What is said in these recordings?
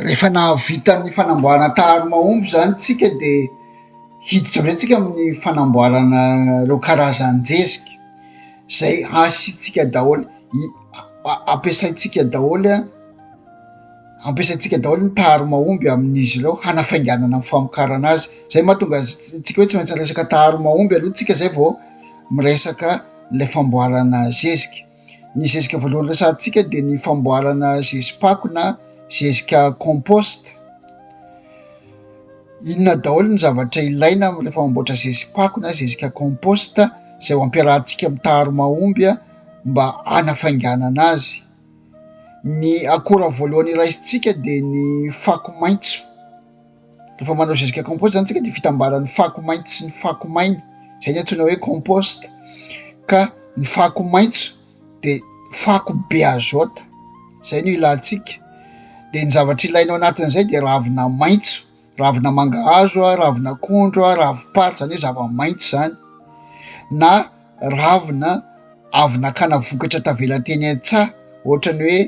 Rehefa nahavita ny fanamboarana taharimahomby izany isika dia hiditra indray isika amin'ny fanamboarana ireo karazan-jezika izay hasiantsika daholo i- a- ampiasaintsika daholo an, ampiasaintsika daholo ny taharimahomby amin'izy ireo hanafainganana ny famokarana azy, izay no mahatonga azy ts- antsika hoe tsy maintsy miresaka taharimahomby aloha isika izay vao miresaka ilay famboarana zezika. Ny zezika voalohany resahantsika dia ny famboarana zezi-pako na zezika compost. Inona daholo ny zavatra ilaina amin'ny rehefa mamboatra zezi-pako na zezika compost izay ho ampiarahantsika amin'ny taharo mahomby mba hanafainganana azy. Ny akora voalohany raisintsika dia ny fako maitso. Rehefa manao zezika compost zany tsika de fitambaran'ny fako maitso sy ny fako maina, zay ny antsoina hoe compost, ka ny fako maitso de fako be azôta, zay no ilantsika, de ny zavatra ilaina ao anatin'izay de ravina maitso, ravina mangahazo, ravina akondro, ravi-pary, zany hoe zava-maitso zany, na ravina avy nakana vokatra tavela teny an-tsaha, ohatran'ny hoe.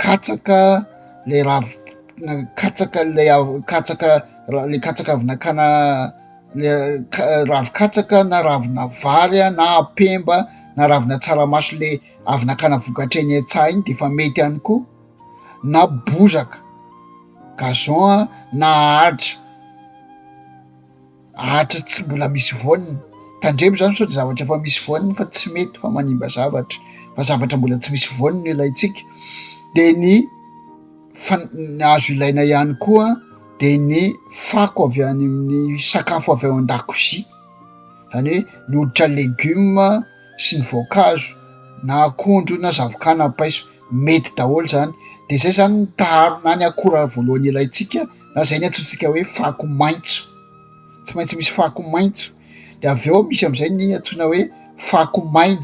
Katsaka ilay rav- katsaka ilay av- katsaka ra- ilay katsaka avy nakana ilay ka- ravin-katsaka na ravina vary a na apemba na ravina tsaramaso le avy nakana vokatra eny an-tsaha iny de efa mety ihany koa na bozaka gazon a na ahitra. Hatry tsy mbola misy voany. Tandremo izany sao dia zavatra efa misy voany fa tsy mety fa manimba zavatra fa zavatra mbola tsy misy voany no ilaintsika. Dia ny fan- ny azo ilaina ihany koa dia ny fako avy any amin'ny sakafo avy ao an-dakozia. Izany hoe ny hoditra legioma sy ny voankazo na akondro na zavokà na paiso. Mety daholo izany. Dia izay izany ny taharona ny akora voalohany ilaintsika. na zay ny antsointsika hoe fako maitso, tsy maintsy misy fako maitso de avy eo misy am'izay ny antsoina hoe fako maina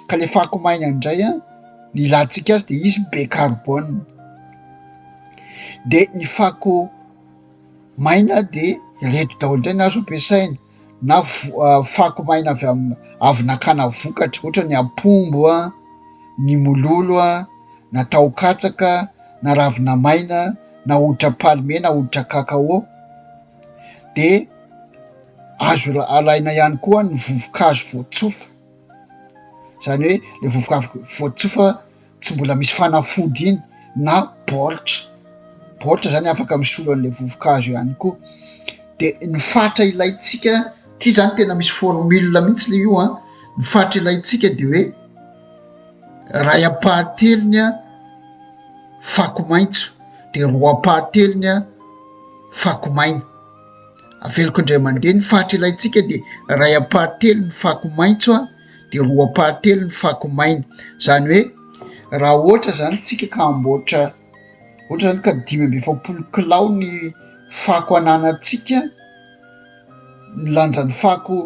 ka le fako maina indray a ny ilantsika azy de izy be carbone, de ny fako maina de ireto daholo indray no azo ampiasaina. na fako maina avy amin'ny avy nakana vokatra ohatra ny ampombo a ny mololo a na taho katsaka na ravina maina na hoditra palme na hoditra kakao de azo alaina ihany koa ny vovokazo voatsofa zany hoe le vovoka voatsofa tsy mbola misy fanafody iny na baoritra baoritra zany afaka misolo an'la vovokazo ihany koa de ny fatra ilayntsika ty zany tena misy formule mihitsy le io an ny fatra ilayntsika de hoe ray ampahatelony a fako maintso de roa ampahatelony a fako maina aveloko indray aman-dre ny fatra ilayntsika de ray ampahatelony fako maintso a dia roapatelo ny fako maina, izany hoe raha ohatra izany isika ka hamboatra ohatra izany ka dimy amby efapolo kilao ny fako ananantsika, ny lanjan'ny fako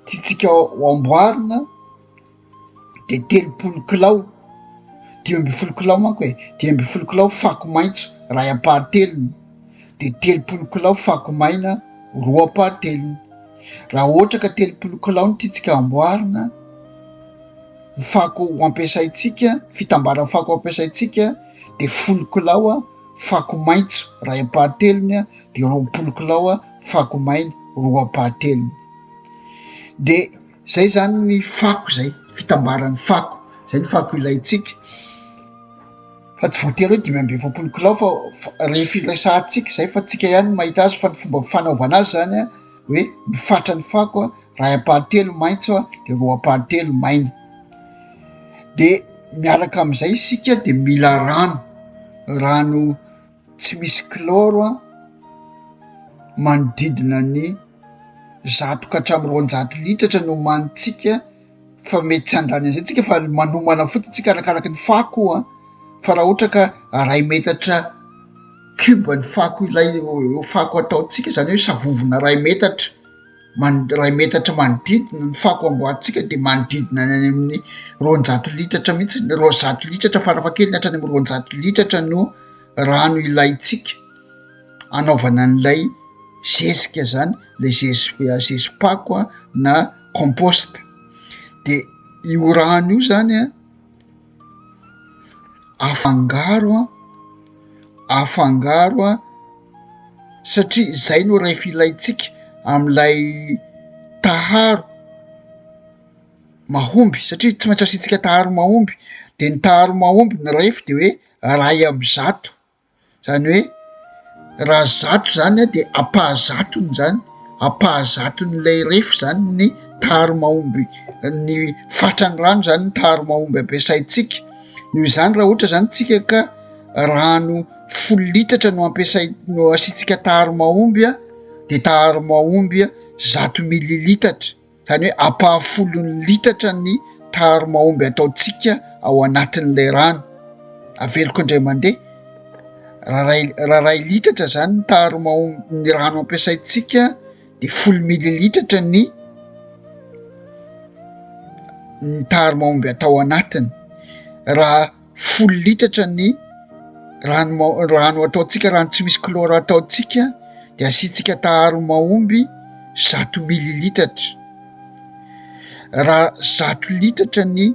tiantsika ho amboarina dia telopolo kilao, dimy ambin'ny folo kilao manko e, dimy ambin'ny folo kilao fako maitso iray ampahatelony. dia telopolo kilao fako maina roa par telony raha ohatra ka telopolo kilao ny tiantsika amboarina ny fako ho ampiasaintsika fitambaran'ny fako ho ampiasaintsika dia folo kilao a fako maitso ray am-par telony a dia roapolo kilao a fako maina roa par telony dia zay zany ny fako zay fitambaran'ny fako zay ny fako ilaintsika fa tsy voatery hoe dimy amby efapolo kilao fa rehefa iresahantsika zay fa tsika ihany mahita azy fa ny fomba fanaovana azy zany a hoe ny fatra ny fako a raha ampahantelo maintso a de roa ampahantelo maina de miaraka am'izay isika de mila rano rano tsy misy kilôro an, manodidina ny zato ka hatramin'ny roanjato litatra no homanintsika fa mety tsy handany an'izay tsika fa manomana fotsiny tsika arakaraky ny fako an, fa raha ohatra ka aray metatra cube ny fako ilay fako ataontsika zany hoe savovona ray metatra. man- iray metatra manodidina, ny fako amboarintsika dia manodidina ny any amin'ny roanjato litatra mihitsy, ny roanjato litatra farafahakeliny hatrany amin'ny roanjato litatra no rano ilaintsika anaovana an'ilay zezika zany lay zezi- zezi-pako a na composte de io rano io zany a Afangaro an, afangaro an, satria izay no raha efa ilaintsika amin'ilay taharo mahomby satria tsy maintsy asiantsika taharo mahomby, de ny taharo mahomby ny rehef de hoe iray amby zato. zany hoe raha zato zany a de ampahazatony zany ampahazaton'ilay refy zany ny tary mahomby ny fatran'ny rano zany ny tary mahomby ampiasaintsika noho izany raha ohatra zany tsika ka rano folo litatra no ampiasai- no asiantsika tary mahomby a de tary mahomby a zato mililitatra Izany hoe ampahafolon'ny litatra ny taharo mahomby ataontsika ao anatin'ilay rano aveloko indray mandeha. Raha iray, raha iray litatra izany ny taharo mahomby ny rano ampiasaintsika dia folo mililitatra ny ny taharo mahomby atao anatiny. Raha folo litatra ny rano rano ataontsika rano tsy misy klora ataontsika de asiantsika taharo mahomby zato mili litatra raha zato litatra ny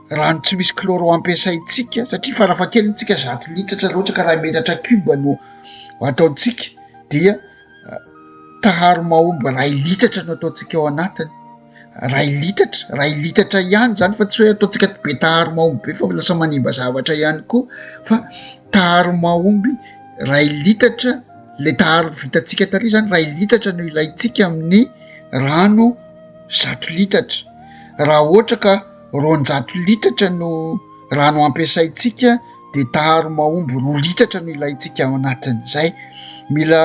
rano tsy misy klora ho ampiasaintsika satria farafahakeliny tsika zato litatra raha ohatra ka raha metatra kiba no ataontsika dia taharo mahomby ray litatra no ataontsika ao anatiny Iray litatra, iray litatra ihany izany fa tsy hoe ataontsika be taharo mahomby be fa lasa manimba zavatra ihany koa fa taharo mahomby iray litatra ilay taharo vitantsika tary izany iray litatra no ilaintsika amin'ny rano zato litatra, raha ohatra ka roanjato litatra no rano ampiasaintsika dia taharo mahomby roa litatra no ilaintsika ao anatin'izay, mila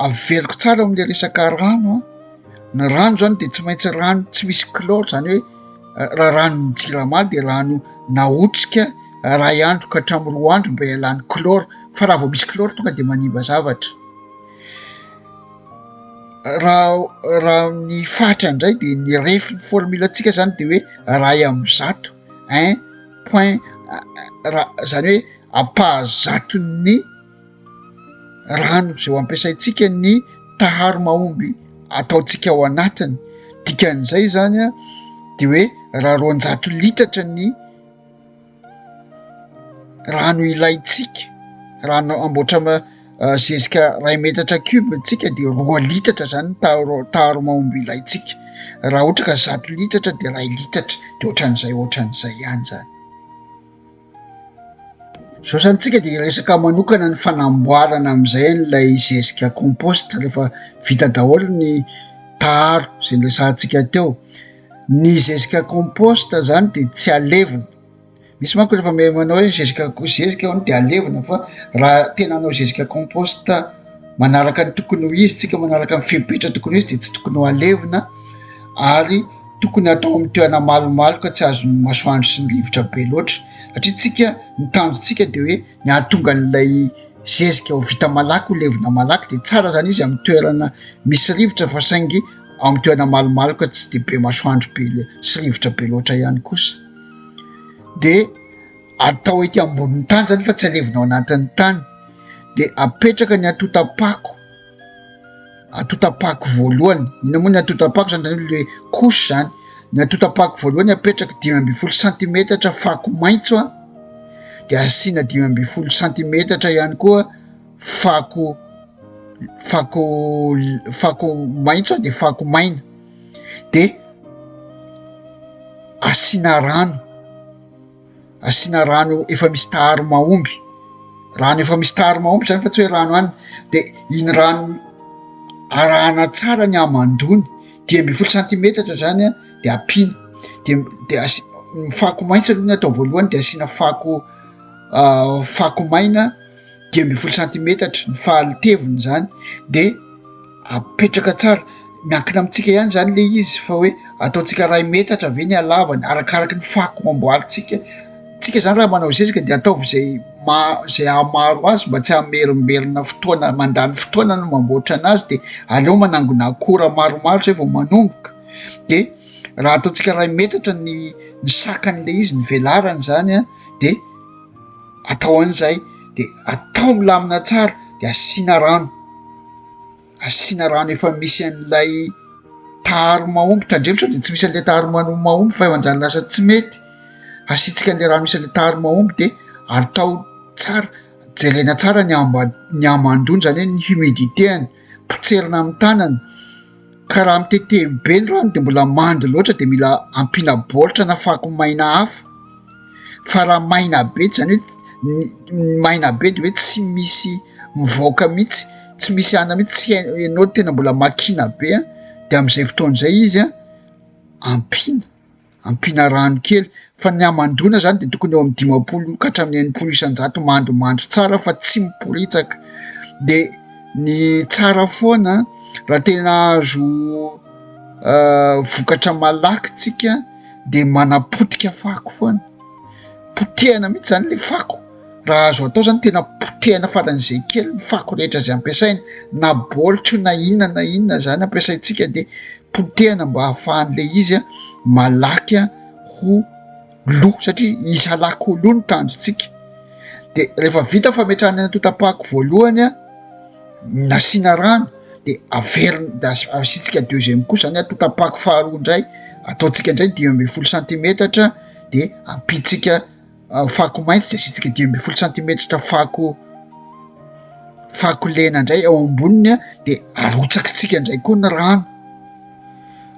averiko tsara ao amin'ilay resaka rano an. Ny rano zany dia tsy maintsy rano tsy misy chlore zany hoe raha ranon'ny jirama dia rano naotrika iray andro ka hatramin'ny roa andro mba hialany chlore fa raha vao misy chlore tonga dia manimba zavatra. Raha raha ny fatra indray dia ny refin'ny formule antsika zany dia hoe iray amin'ny zato un point ra- zany hoe ampaha zaton'ny. rano izay ho ampiasaintsika ny taharo mahomby ataontsika ao anatiny. Dikan'izay izany dia hoe raha roanjato litatra ny rano ilaintsika, rano amboatra eh, zezika ray metatra cube ntsika dia roa litatra zany ny taharo mahomby ilaintsika. Raha ohatra ka zato litatra dia ray litatra dia ohatran'izay ohatran'izay ihany zany. Izao izany tsika dia resaka manokana ny fanamboarana amin'izay an'ilay zezika compost rehefa vita daholo ny taharo izay niresahantsika teo. Ny zezika compost izany dia tsy alevina, misy manko rehefa me- manao hoe zezika ko- zezika hono dia alevina fa raha tena hanao zezika compost manaraka ny tokony ho izy tsika, manaraka ny fepetra tokony ho izy dia tsy tokony ho alevina ary. tokony hatao amin'ny toerana malomaloka tsy azon'ny masoandro sy ny rivotra be loatra satria tsika ny tanjontsika dia hoe ny hahatonga an'ilay zezika ho vita malaky ho levona malaky dia tsara izany izy amin'ny toerana misy rivotra fa saingy amin'ny toerana malomaloka tsy dia be masoandro be le sy rivotra be loatra ihany kosa dia atao ety ambonin'ny tany izany fa tsy alevina ao anatin'ny tany dia apetraka ny atotapako atotapako voalohany ina moa ny atotapako zany zany le couche zany ny atotapako voalohany apetraka dimy ambin'ny folo santimetatra fako maitso a de asiana dimy ambin'ny folo santimetatra ihany koa fako fako fako maitso a de fako maina de asiana rano asiana rano efa misy taharo mahomby, rano efa misy taharo mahomby zany fa tsy hoe rano any de iny rano arahana tsara ny hamandoany, dimy ambin'ny folo santimetatra zany a de ampiana de de asi- ny fako maitso aloha ny atao voalohany de asiana fako fako maina. dimy ambin'ny folo santimetatra ny fahalteviny zany de apetraka tsara miankina amintsika ihany zany le izy fa hoe ataontsika ray metatra ve ny alavany arakaraky ny fako mamboalintsika tsika zany raha manao zezika de ataovy zay ma- zay ahamaro azy mba tsy amerimberina fotoana mandany fotoana no mamboatra ana azy de aleo manangona akora maromaro zay vao manomboka de raha ataontsika ray metatra ny ny sakan'le izy ny velarany zany a de atao an'izay dia atao milamina tsara dia asiana rano, asiana rano efa misy an'ilay taharo mahomby tandremo sao dia tsy misy an'ilay taharo mahomby fa efa lasa tsy mety, asiantsika an'ilay rano misy an'ilay taharo mahomby dia atao tsara, jerena tsara ny ambany ny hamandoana izany hoe ny humidité-any, potserina amin'ny tanana. Ka raha mitetehiny be ny rano dia mbola mando loatra dia mila ampiana baoritra na fako maina hafa fa raha maina be dia izany hoe ny maina be dia hoe tsy misy mivoaka mihitsy tsy misy anona mihitsy tsy hain- ianao tena mbola makiana be an dia amin'izay fotoana izay izy an ampiana Ampiana rano kely fa ny hamandoana izany dia tokony eo amin'ny dimampolo ka hatramin'ny enimpolo isan-jato mandomando tsara fa tsy miporitsaka. Dia ny tsara foana raha tena azo uh, vokatra malaky tsika dia manapotika fako foana. Potehana mihitsy izany le fako. Raha azo atao izany tena potehina faran'izay kely ny fako rehetra izay ampiasaina na baolitra io na inona na inona izany ampiasaintsika dia potehina mba hahafahan'ilay izy malaky ho lo satria izy halaky ho lo ny tanjontsika. Dia rehefa vita ny fametrahana ny antontam-pako voalohany nasiana rano dia averina dia asiantsika deuxième couche izany antontam-pako faharoa indray ataontsika indray dimy ambin'ny folo santimetatra dia ampiantsika fako mainty izay asitsika dimy ambin'ny folo santimetatra fako fako lena indray ao amboniny an dia arotsakitsika indray koa ny rano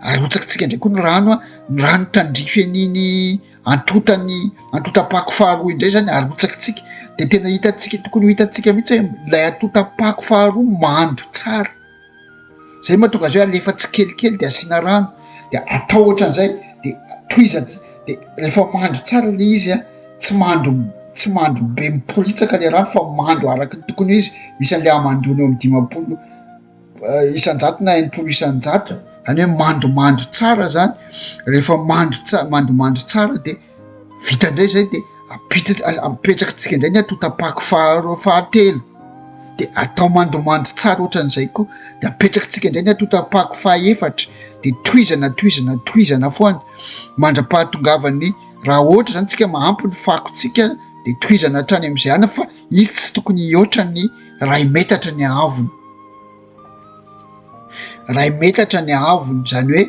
arotsakitsika indray koa ny rano an ny rano tandrify an'iny antotany antotam-pako faharoa indray izany arotsakitsika dia tena hitantsika tokony ho hitantsika mihitsy hoe ilay antotam-pako faharoa mando tsara zay mahatonga azy hoe alefa tsikelikely de asiana rano de atao ohatran'izay de tohizany de rehefa mandro tsara le izy a tsy mandro tsy mandro be miporitsaka le rano fa mandro araka ny tokony izy misy an'le amandoana eo am dimapolo eh, isanjato na enimpolo isanjato any hoe mandomando tsara zany rehefa mandro tsa mandomando tsara de vita indray izay de ampiditra aza apetraka tsika indray ny atotapako faharoa fahatelo de atao mandomando tsara ohatran'izay koa de apetraka tsika indray ny atotapako fahaefatra de tohizana tohizana tohizana foana mandra-pahatongavan'ny raha ohatra zany tsika mahampy ny fako tsika de tohizana hatrany am'izay ana fa itsy tokony hihoatra ny ray metatra ny ahavony iray metatra ny haavony izany hoe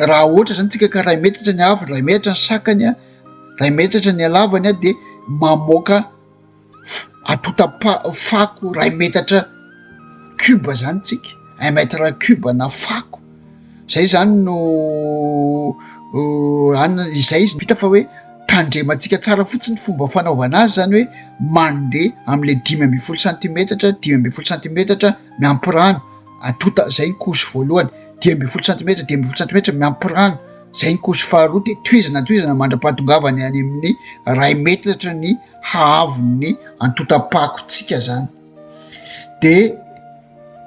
raha ohatra zany tsika ka iray metatra ny haavony, iray metatra ny sakany an, iray metatra ny halavany an dia mamoaka atota-fako iray metatra cube zany tsika, un mètre cube na fako. Izay izany no anona, izay izy no hita fa hoe tandremantsika tsara fotsiny ny fomba fanaovana azy, izany hoe mandeha amin'ilay dimy ambin'ny folo santimetatra, dimy ambin'ny folo santimetatra miampy rano, atonta, izay ny couche voalohany, dimy ambin'ny folo santimetatra, dimy ambin'ny folo santimetatra miampy rano, izay ny couche faharoa, dia tohizana tohizana mandra-pahatongavany any amin'ny iray metatra ny haavon'ny antontam-pakontsika izany. de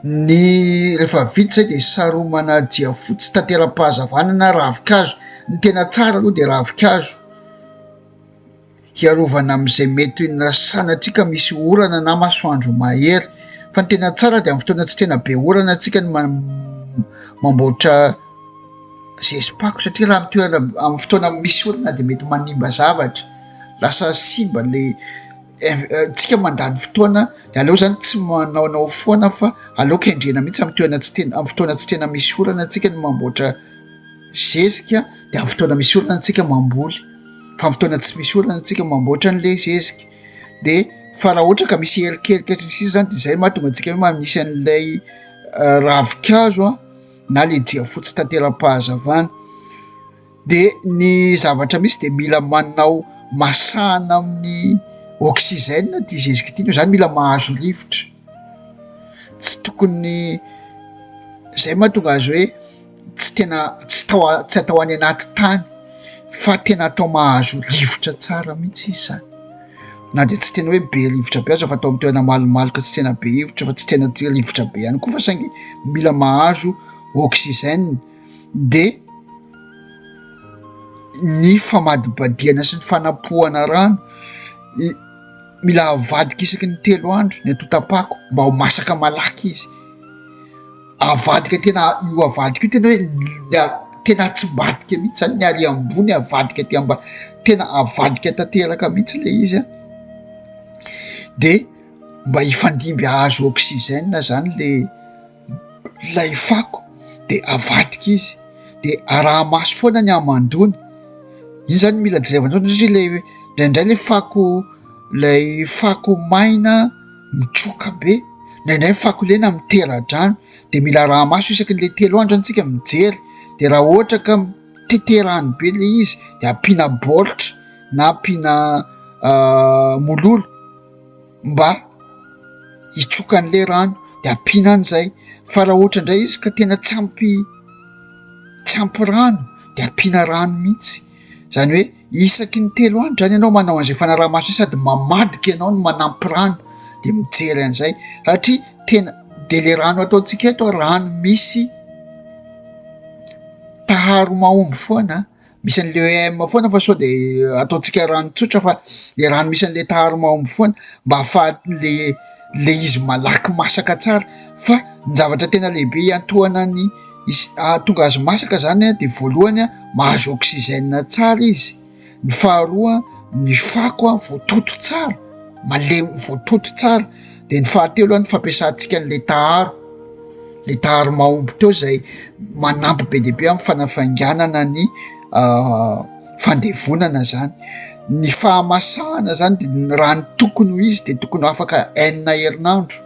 ny rehefa vita zay de saromana jiafotsy tanteram-pahazavana na ravinkazo ny tena tsara aloha de ravinkazo hiarovana am'izay mety ho na sanatria ka misy orana na masoandro mahery fa ny tena tsara de am'y fotoana tsy tena be orana atsika ny ma- mamboatra zezi-pako satria raha am'toerana am'y fotoana misy orana de mety manimba zavatra lasa simba le tsika mandany fotoana de aleo zany tsy manaonao foana fa aleo kendrena mihitsy am toerana tsy tena am fotoana tsy tena misy orana antsika no mamboatra zezika de am fotoana misy orana antsika mamboly fa am fotoana tsy misy orana antsika mamboatra an'le zezika de fa raha ohatra ka misy erikerika sy ny sisa zany de zay ma tonga antsika hoe manisy an'ilay eh, ravikazo a na le jiafotsy tanteram-pahazavana dia ny zavatra misy dia mila manao masahana amin'ny oxygène ity zezika ity noho izany mila mahazo rivotra, tsy tokony izay no mahatonga azy hoe tsy tena tsy tao a- tsy atao any anaty tany fa tena atao mahazo rivotra tsara mihitsy izy izany na dia tsy tena hoe be rivotra be aza fa atao amin'ny toerana malomaloka tsy tena be hivotra fa tsy tena tia rivotra be ihany koa fa saingy mila mahazo oxygène. dia ny famadibadihana sy ny fanapohana rano mila avadika isaky ny telo andro ny atotapako mba ho masaka malaky izy avadika tena io avadika io tena hoe mila tena atsimbadika mihitsy zany ny ary ambony avadika aty ambany tena avadika tanteraka mihitsy le izy an dia mba hifandimby ahazo oksizena zany le ilay fako dia avadika izy dia araha-maso foana ny hamandoana, io izany mila jerena foana satria ilay indraindray ilay fako ilay fako maina mitroka be, indraindray ny fako lena mitera-drano dia mila araha-maso isaky ny le telo andro zany isika mijery dia raha ohatra ka mitete rano be ilay izy dia ampiana baoritra na ampiana mololo. mba hitsoka an'ilay rano dia ampiana any izay fa raha ohatra indray izy ka tena tsy ampy tsy ampy rano dia ampiana rano mihitsy izany hoe isaky ny telo andro izany ianao manao an'izay fanaraha-maso izay sady mamadika ianao no manampy rano dia mijery an'izay satria tena dia ilay rano ataontsika eto rano misy taharo mahomby foana misy an'le EM foana fa sao de ataontsika rano tsotra fa le rano misy an'le taharo mahomby foana mba ahafahan'le le izy malaky masaka tsara fa ny zavatra tena lehibe hiantohana ny is- ahatonga azy masaka zany a de voalohany a mahazo oxygène tsara izy ny faharoa ny fako a voatoto tsara malemy voatoto tsara Dia ny fahatelo aloha ny fampiasantsika an'ilay taharo, le taharo mahomby teo izay manampy be dia be amin'ny fanafainganana ny fandevonana zany. Ny fahamasahana zany dia ny raha ny tokony ho izy dia tokony ho afaka enina herinandro,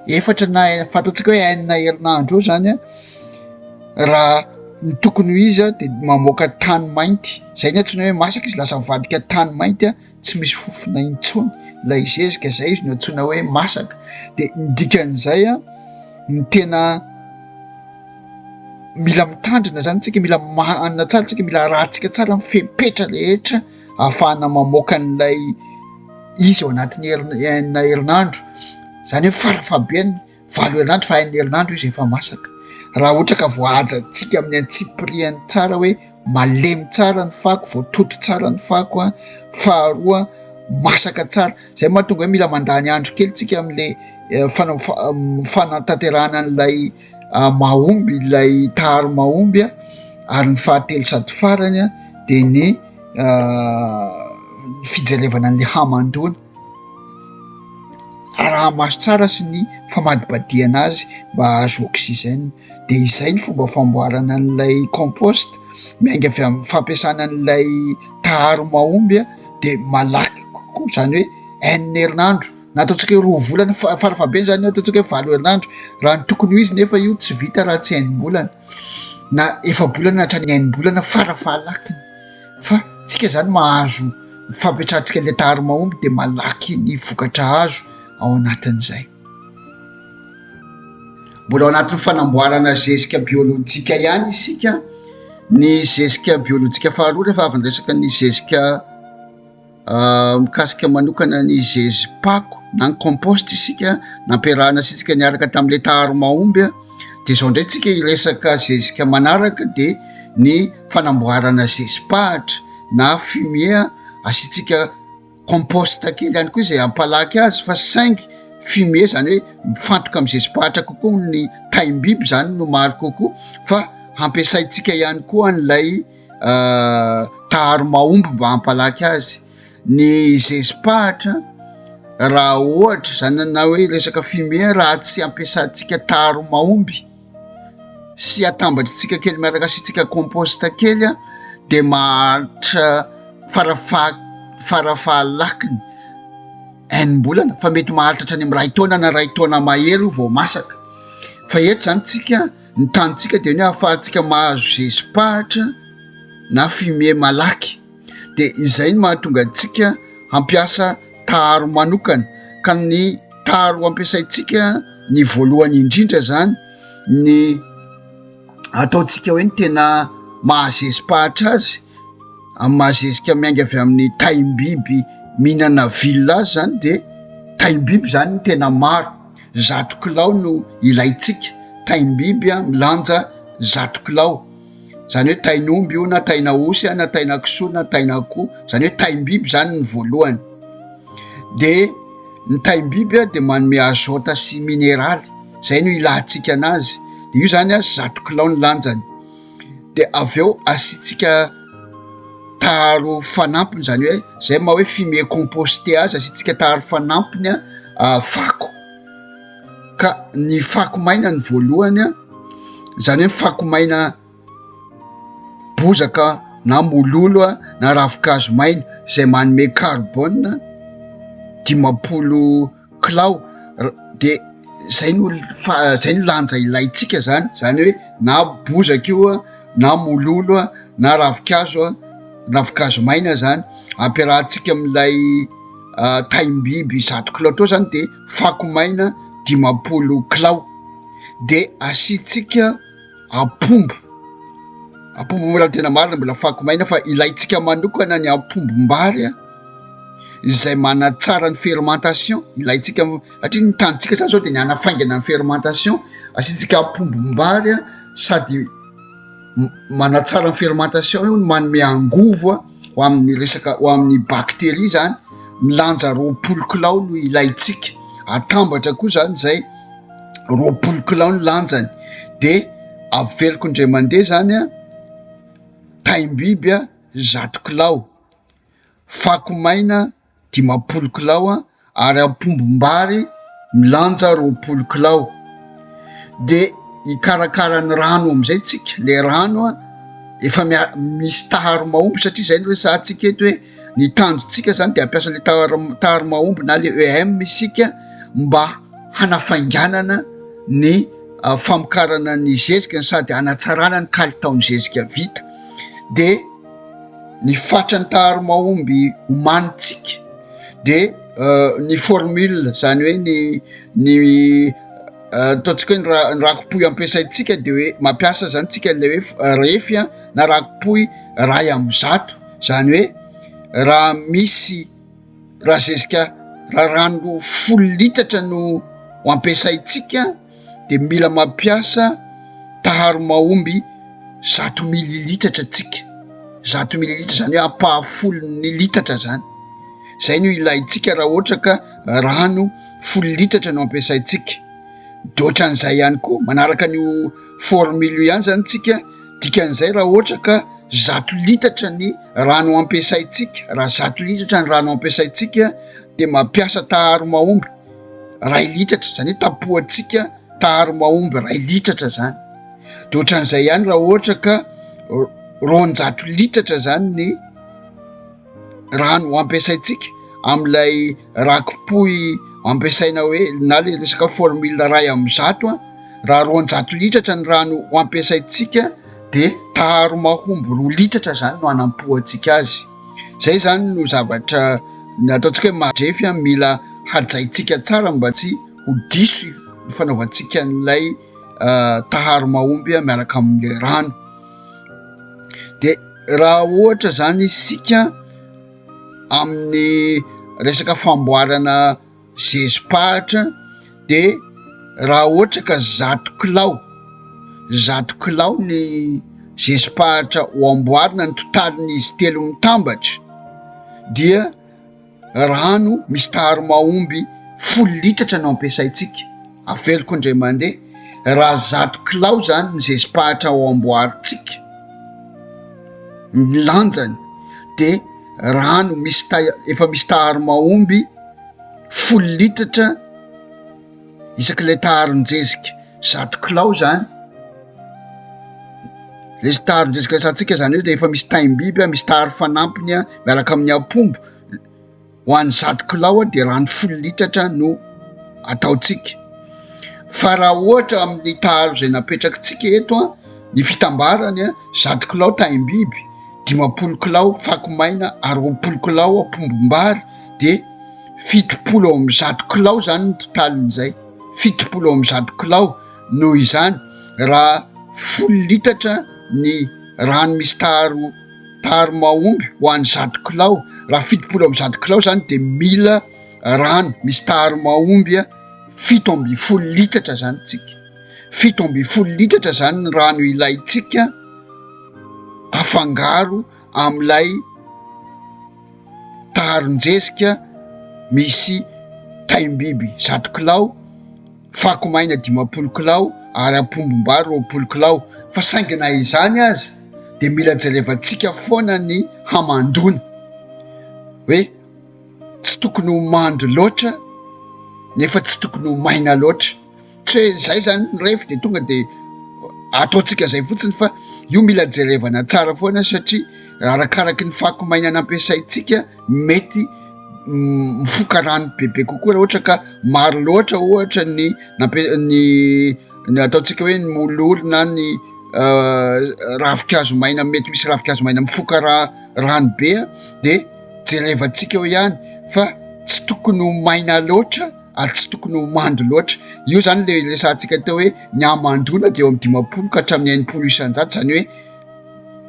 efatra na e- fantatsika hoe enina herinandro eo zany an, raha ny tokony ho izy dia mamoaka tany mainty, zay ny antsoina hoe masaka izy, lasa mivadika tany mainty an. tsy misy fofona intsony ilay zezika, izay izy no antsoina hoe masaka, dia ny dikan'izay ny tena mila mitandrina izany isika, mila manana tsara isika, mila arahintsika tsara ny fepetra rehetra ahafahana mamoaka an'ilay izy ao anatin'ny herinandro, izany hoe farafahabeany. Valo herinandro fa enina herinandro izy efa masaka. Raha ohatra ka voahajantsika amin'ny antsipiriany tsara hoe malemy tsara ny fako, voatoto tsara ny fako, faharoa masaka tsara, izay no mahatonga hoe mila mandany andro kely tsika amin'ilay fanatanterahana an'ilay mahomby, ilay taharo mahomby ary ny fahatelo sady farany dia ny fijerevana ny hamandoana. araha-maso tsara sy ny famadibadihana azy mba hahazo oxygène dia izay ny fomba famboarana an'ilay compost miainga avy amin'ny fampiasana an'ilay taharo mahomby aho dia malaky kokoa izany hoe enina herinandro na ataontsika hoe roa volana fa farafahabeny izany eo ataontsika hoe valo herinandro raha ny tokony ho izy nefa io tsy vita raha tsy hain'ny bolana na efa-bolana hatrany hain'ny bolana farafahalakiny fa tsika zany mahazo fampiatrantsika le taharo mahomby de malaky ny vokatra azo ao anatin'izay mbola ao anatin'ny fanamboarana zezika biolojika ihany isika ny zezika biolojika faharoa rehefa avy ny resaka ny zezika Mikasika manokana ny zezi-pako na ny compost isika nampiarahana antsika niaraka tamin'ilay taharo mahomby dia izao indray tsika hiresaka zezika manaraka dia ny fanamboarana zezi-pahatra na fumier asiantsika compost kely ihany koa izay hampalaky azy fa saingy fumier izany hoe mifantoka amin'ny zezi-pahatra kokoa ny taim-biby izany no maro kokoa fa hampiasaintsika ihany koa an'ilay taharo mahomby mba hampalaky azy. Ny zezi-pahatra raha ohatra izany na hoe resaka fumier raha tsy ampiasantsika taharo mahomby sy atambatritsika kely miaraka asiantsika compost kely dia maharitra farafaha-lakiny enim-bolana fa mety maharitra hatrany amin'ny iray taona na iray taona mahery io vao masaka fa eto izany tsika Ny tanintsika dia ny hoe ahafahantsika mahazo zezi-pahatra na fumier malaky dia izay no mahatonga antsika hampiasa taharo manokana ka ny taharo ampiasaintsika ny voalohany indrindra izany ny ataontsika hoe ny tena mahazezi-pahatra azy amin'ny mahazezika miainga avy amin'ny taim-biby mihinana vilona azy izany dia taim-biby izany ny tena maro. Zato kilao no ilaintsika, taim-biby a, milanja zato kilao, zany hoe tain'omby io na tain'aosy a, na tainankisoa na tain'akoho, zany hoe taim-biby zany ny voalohany, de ny taim-biby a de manome azôta sy mineraly, zay no ilatsika anazy, de io zany a zato kilao ny lanjany. de avy eo asiantsika taharo fanampiny zany hoe zay ma hoe fumier composté azy asiantsika taharo fanampiny a fako ka ny fako maina ny voalohany a zany hoe fako maina bozaka na mololo a na ravi-kazo maina izay manome karbona dimampolo kilao dia izay no izay no lanja ilaintsika zany, zany hoe na bozaka io an, na mololo an, na ravinkazo an, ravinkazo maina zany ampiarahantsika amin'ilay taim-biby zato kilao teo zany dia fako maina dimampolo kilao dia asiantsika. ampombo, ampombo mbola tena marina mbola fako maina fa ilaintsika manokana ny ampombom-bary a, izay manatsara ny fermentation, ilaintsika satria ny tanintsika zany zao de ny hanafaingana ny fermentation, asiantsika ampombom-bary a sady manatsara ny fermentation io no manome angovo a ho amin'ny resaka ho amin'ny bacterie zany, milanja roapolo kilao no ilaintsika, atambatra koa zany zay. roapolo kilao ny lanjany de averiko indray mandeha zany a taim-biby a zato kilao fako maina dimampolo kilao a ary ampombom-bary milanja roapolo kilao de hikarakara ny rano amizay tsika le rano a efa mia- misy taharo mahomby satria zay no resahantsika eto hoe Ny tanjontsika izany dia hampiasa ilay tary mahomby na ilay EM isika mba hanafainganana ny ah, famokarana ny zezika sady hanatsarana ny kalitaon'ny zezika vita. Dia ny fatran'ny tary mahomby omanintsika dia eh, ny formule izany hoe ny ny eh, ataontsika hoe ny rakopoy ampiasaintsika dia hoe mampiasa izany tsika ilay hoe eh, refy na rakopoy ray amin'ny zato Izany hoe raha misy, raha zezika, raha rano folo litatra no ho ampiasaintsika dia mila mampiasa taharo mahomby zato mililitatra tsika. Zato mililitatra izany hoe ampahafolon'ny litatra izany. Izay no ilaintsika raha ohatra ka rano folo litatra no ampiasaintsika. Dia ohatran'izay ihany koa, manaraka an'io formule io ihany izany tsika. Dikan'izay raha ohatra ka zato litatra ny rano ampiasaintsika, raha zato litatra ny rano ampiasaintsika dia mampiasa taharo mahomby iray litatra, izany hoe tapohantsika taharo mahomby iray litatra izany. Dia ohatran'izay ihany raha ohatra ka roanjato litatra izany ny. rano ampiasaintsika amin'ilay rakipohy ampiasaina hoe na le resaka formule ray amin'ny zato an raha roanjato litatra ny rano ho ampiasaintsika dia taharo mahomby roa litatra zany no anampohantsika azy zay zany no zavatra ny ataontsika hoe madrefy an mila hajaintsika tsara mba tsy ho diso ny fanaovantsika n'ilay ah, taharo mahomby an miaraka amin'ilay rano dia Raha ohatra zany isika amin'ny resaka famboarana zezi-pahatra de raha ohatra ka zato kilao, zato kilao ny zezi-pahatra ho amboarina ny totaliny izy telo mitambatra dia. Rano misy taharo mahomby folo litatra no ampiasaintsika, aveloko indray mandeha, raha zato kilao izany ny zezi-pahatra ao amboarintsika, ny lanjany dia rano misy ta- efa misy taharo mahomby folo litatra. isaky ilay taharon-jezika zato kilao zany, le taharon-jezika zatsika zany hoe le efa misy taim-biby an, misy taharo fanampiny an, miaraka amin'ny apombo, ho an'ny zato kilao dia rano folo litatra no ataontsika, fa raha ohatra amin'ny taharo izay napetrakitsika eto an, ny fitambarany an, zato kilao taim-biby, dimampolo kilao fako maina ary roapolo kilao apombom-bary dia. fitopolo ao amin'ny zato kilao izany ny totaliny izay, fitopolo ao amin'ny zato kilao, noho izany raha folo litatra ny rano misy taro taro mahomby ho an'ny zato kilao, raha fitopolo amin'ny zato kilao izany dia mila rano misy taro mahomby fito ambin'ny folo litatra izany isika, fito ambin'ny folo litatra izany ny rano ilaintsika afangaro amin'ilay. taron-jezika misy taim-biby zato kilao, fako maina dimampolo kilao ary ampondom-bary roapolo kilao fa saingy na izany aza dia mila jerevantsika foana ny hamandoana hoe tsy tokony ho mando loatra nefa tsy tokony ho maina loatra. Tsy hoe izay zany ny revy dia tonga dia ataontsika izay fotsiny fa io mila jerevana tsara foana satria arakaraky ny fako maina nampiasaintsika mety mifoka rano bebe kokoa raha ohatra ka maro loatra ohatra ny nampi- ny ny ataontsika hoe ny mololo na ny ravinkazo maina mety misy ravinkazo maina mifoka raha rano be dia jerevantsika eo ihany fa tsy tokony ho maina loatra ary tsy tokony ho mando loatra. Io izany ilay resahantsika teo hoe ny hamandoana dia eo amin'ny dimampolo ka hatramin'ny enimpolo isanjato, izany hoe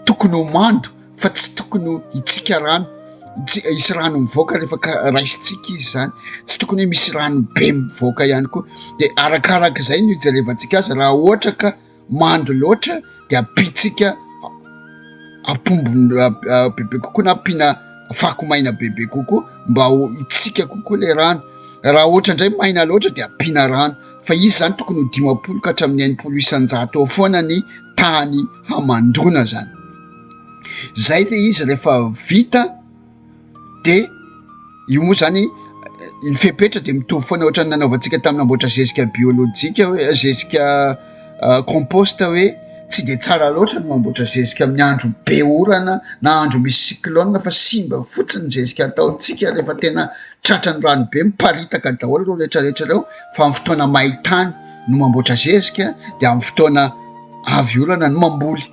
tokony ho mando fa tsy tokony ho hitsika rano, tsy hisy rano mivoaka rehefa raisintsika izy izany, tsy tokony hoe misy rano be mivoaka ihany koa, dia arakaraka izay no hijerevantsika azy raha ohatra ka. mando loatra de ampiantsika apombony bebe kokoa na ampiana fako maina bebe kokoa mba ho hitsika kokoa le rano, raha ohatra indray maina loatra de ampiana rano fa izy zany tokony ho dimampolo ka hatramin'ny enimpolo isan-jato eo foana ny tany hamandoana zany, zay le izy rehefa vita. de io moa zany ny fepetra de mitovy foana ohatrany nanaovantsika tamin'ny namboatra zezika biolojika hoe zezika ah, compost hoe tsy de tsara loatra ny mamboatra zezika amin'ny andro be orana na andro misy cyclone fa simba fotsiny zezika ataontsika rehefa tena tratra ny rano be miparitaka daholo ireo retraretra ireo fa amin'ny fotoana maitany no mamboatra zezika de amin'ny fotoana avy orana no mamboly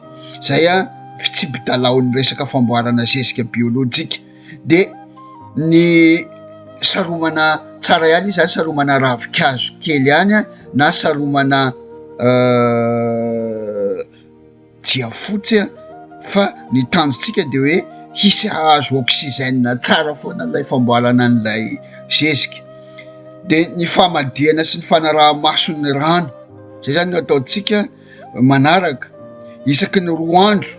izay a fitsibi-dalaon'ny resaka famboarana zezika biolojika dia ny saromana tsara ihany izy zany saromana ravin-kazo kely ihany a na saromana jiafotsy a fa ny tanjontsika dia hoe hisy hahazo oxygène tsara foana ilay famboarana an'ilay zezika dia ny famadihana sy ny fanaraha-maso ny rano zay zany no ataontsika manaraka isaky ny roa andro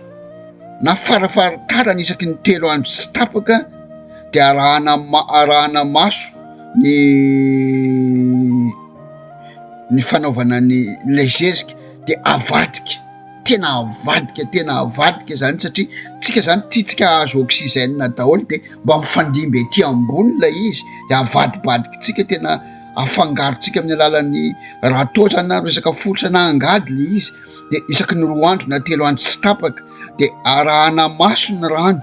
na farafaharitarany isaky ny telo andro tsy tapaka dia arahana ma- arahana maso ny ny fanaovana ny ilay zezika dia avadika tena avadika tena avadika zany satria tsika zany tiatsika ahazo oksizena daholo de mba mifandimby aty ambony ilay izy de avadibadikitsika tena afangarontsika amin'ny alalan'ny raha toa zany na resaka foritra na angady le izy de isaky ny roa andro na telo andro tsy tapaka de arahana maso ny rano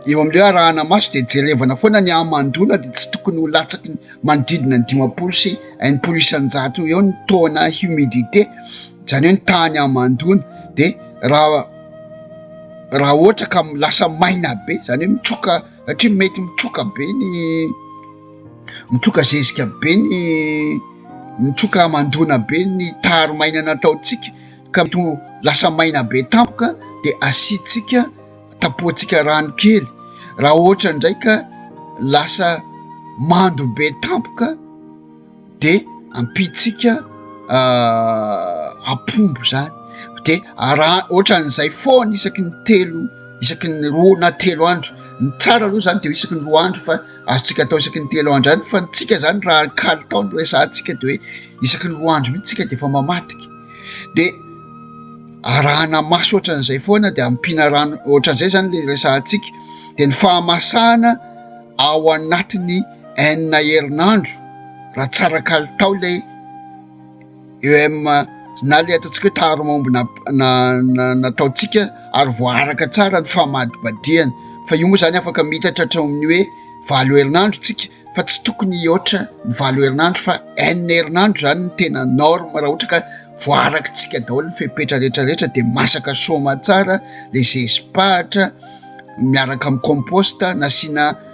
eo am'le hoe arahana maso de jerevana foana ny hamandoana de tsy tokony ho latsaky ny manodidina ny dimampolo sy enimpolo isan-jato eo ny taux na humidité zany hoe ny tahan'ny hamandoana de raha raha ohatra ka lasa maina be zany hoe mitsoka satria mety mitroka be ny mitroka zezika be ny mitroka aman-doana be ny taro maina nataontsika ka to lasa maina be tampoka de asiantsika tapoantsika rano kely raha ohatra indray ka lasa mando be tampoka dia ampitsika ampombo zany de araha ohatran'izay foana isaky ny telo isaky ny roa na telo andro ny tsara aloha zany de ho isaky ny roa andro fa azontsika atao isaky ny telo andro any fa ny tsika zany raha kalitao no resahantsika de hoe isaky ny roa andro mihitsy tsika de efa mamadika de arahana maso ohatran'izay foana de ampiana rano ohatran'izay zany le resahantsika de ny fahamasahana ao anatin'ny Enina herinandro raha tsara kalitao ilay EM na ilay ataontsika hoe taharo mahomby nataontsika ary voaaraka tsara ny famadibadihana fa io moa izany afaka miitatra hatramin'ny hoe valo herinandro isika fa tsy tokony hihoatra ny valo herinandro fa enina herinandro izany ny tena norme raha ohatra ka voaarakintsika daholo ny fepetra rehetrarehetra dia masaka soma tsara ilay zezipahatra miaraka amin'ny composta nasiana